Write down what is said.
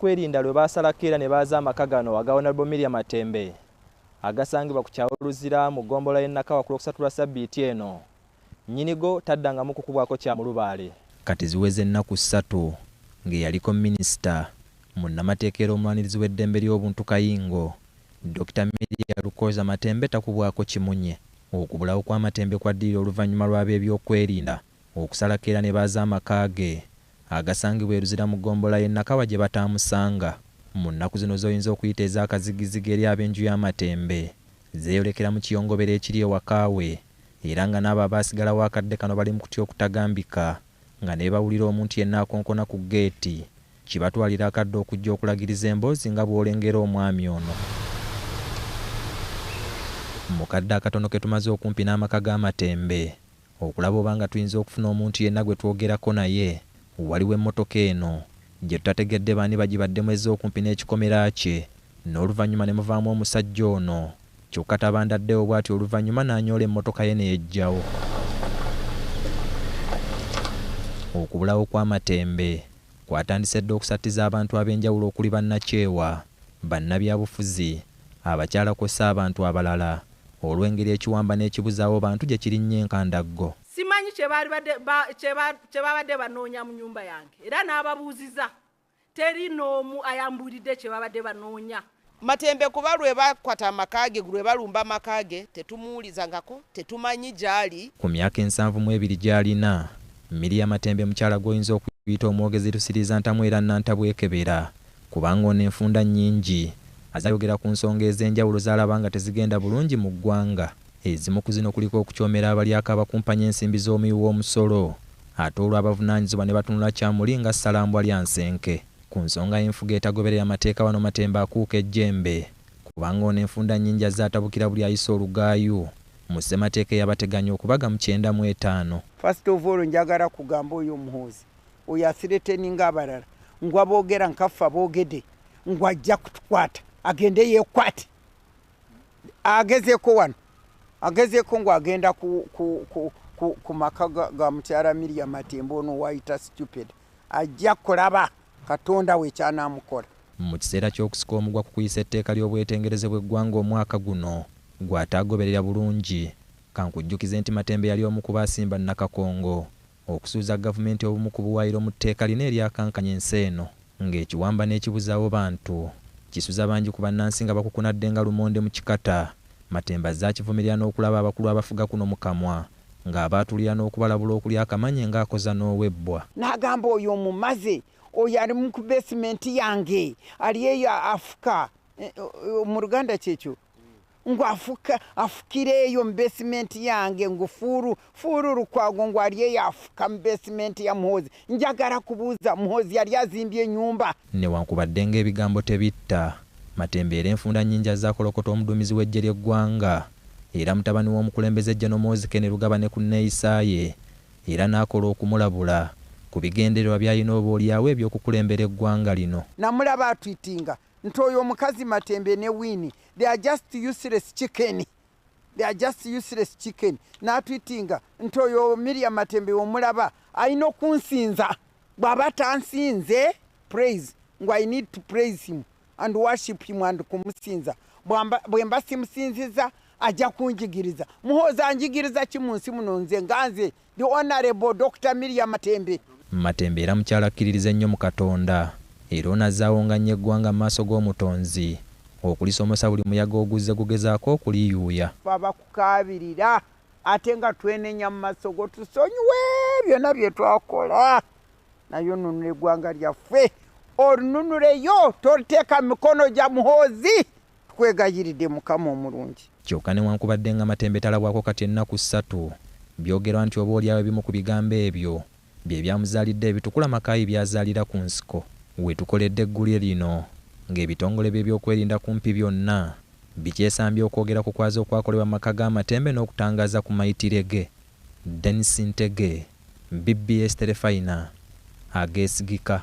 kwerinda lwe baasalako era ne baaza amaka gano aga Honourable Miriam Matembe agasangibwa ku kyalo Luzira mu ggombolola y'e Nakawa ku Lwokusatu lwa ssabbiiti eno nnyinigo taddangamu kukubwako kya mu lubaale. Kati ziweze ennaku ssatu ng'eyaliko minisita, munnamateeka era omulwanirizi w'eddembe ly'obuntu Kayingo, Dokita Miria Lukooza Matembe takubwako kimunye. Okubulawo kwa Matembe kwaddirira oluvannyuma lw'abeebyokwerinda okusalako era ne baaza amaka ge agasangibwa e Luzira mu ggombolola y'e Nakawa gye bataamusanga. Mu nnaku zino z'oyinza okuyita ez'akazigizigi eri ab'enju ya Matembe, zeeyolekera mu kiyongobero ekiri ewaka we era nga n'abo abaasigalawo akadde kano bali mu kutya okutagambika nga ne bwe bawulira omuntu yenna akonkona ku ggeeti, kibatwalira akadde okujja okulagiriza emboozi nga bw'olengera omwami ono. Mu kadde akatono ke tumaze okumpi n'amaka ga Matembe, okulaba oba nga tuyinza okufuna omuntu yenna gwe twogerako naye waliwo emmotoka eno gye tutategedde baani bagibaddemu ezze okumpi n'ekikomera kye n'oluvannyuma ne muvaamu omusajja ono kyokka tabandaddewo bwatyo oluvannyuma n'anyoola emmotoka ye ne yeggyawo. Okubulawo kw'amatembe kwatandise dda okusattiza abantu ab'enjawulo okuli bannakyewa, bannabyabufuzi, Abakyala kwossa abantu abalala olwengeri ekiwamba n'ekibuzaawo bantu gye kirinnye enkandaggo. Simanyi kye babadde banoonya mu nnyumba yange era n'ababuuziza teri n'omu ayambuulidde kye babadde banoonya. Matembe kuba lwe bakwata amaka ge, lwe balumba amaka ge tetumuwulizangako, tetumanyi gy'ali. Ku myaka ensanvu mu ebiri gy'alina, Miria Matembe mukyala gw'oyinza okuyita omwogezi Lusiriizantamu era Nnantabwekebera kubanga ono enfunda nnyingi azayogera ku nsonga ez'enjawulo z'alaba nga tezigenda bulungi mu ggwanga, ezimu ku zino kuliko okucoomera abalyake abakumpanya ensimbi z'omuwi w'omusolo ate olwo abavunaanyizibwa ne batunula kya muli nga ssalambwalyansenke ku nsonga y'enfuga etagoberera mateeka wano Matembe akuuka ejjembe kubanga ono enfunda nnyingi azze atabukira buli ayisa olugaayu mu ssemateeka eyabateganya okubaga mu kyenda mu etaano. First of all njagala kugamba oyo muhoozi. oyo asireteninga abalala ngwa bogera nkaffe abogede ngwa ajja kutukwata agende yekwate agezeko wano agezeko ngwa agenda ku, ku, ku, ku, ku maka ga, ga mukyala miria matembo ono wayita stupid ajja kulaba katonda we kyanamukola mu kiseera ky'okusika omugwa ku kuyisa etteeka ly'obwetengereze bw'eggwanga omwaka guno gw'ataagoberera bulungi. Kankujjukize nti Matembe yali omu ku baasimba Nakakongo Okusuuza gavumenti obumu ku buwaayiro mu tteeka lino eryakankanya ensi eno nga ekiwamba n'ekibuzaawo bantu, kisuza bangi ku bannansi nga bakukunadde nga lumonde mu kikata. Matembe azze akivumirira n'okulaba abakulu abafuga kuno mu kamwa nga abaatulira n'okubalabula okulya akamanye nga akoza n'owebbwa. Nagamba oyo omumaze, oyo ali mu ku basement yange, ali eyo afuka, mu luganda kyekyo. ngo afuka afukira eyo mu besimenti yange ngo fuuru fuuru lukwago ngo ali eyo afuka mu besimenti ya muhoozi njagala kubuuza muhoozi yali azimbye enyumba Newankubadde ng'ebigambo tebitta, Matembe era enfunda nnyingi azze akolokota omuduumizi w'eggye ly'eggwanga era mutabani w'omukulembeze Gen Muhoozi Kenny Lugaba ne ku nneeyisa ye era n'akola okumulabula ku bigendererwa by'alina oboolyawo eby'okukulembera eggwanga lino. Namulaba atwitinga nti oyo omukazi matembe ne wini they are just useless chicken they are just useless chicken natwitinga nti oyo miria matembe omulaba alina okunsinza bwaba tansinze praise ngu i need to praise him and worship him and kumusinza bwemba simusinziza ajja kunjigiriza muhooza njigiriza ki mu nsi muno nze nga nze The Honourable Dokita Miria Matembe. Matembe era mukyala akkiririza ennyo mu Katonda era ono azze awongannya eggwanga mu maaso g'omutonzi okulisomosa buli muyaga oguzze gugezaako okuliyuuya. Ffe abakukaabirira ate nga twenenya mu maaso go tusonyiwe byonna bye twakola naye onunula eggwanga lyaffe olununuleyo toliteeka mikono gya muhoozi. Tukwegayiridde Mukama omulungi. Kyoka newankubadde nga Matembe talabwako kati ennaku ssatu, byogerwa nti oba olyawo ebimu ku bigambo ebyo byebyamuzaalidde ebitukula Makaayi byazaalira ku nsiko wetukoledde eggulire lino nga ebitongole byebyokwerinda kumpi byonna bikyesambye okwogera ku kwaza okwakolebwa mu maka ga Matembe n'okutangaaza ku mayitire ge. Denis Ntege, bbs Terefayina, ageesigika.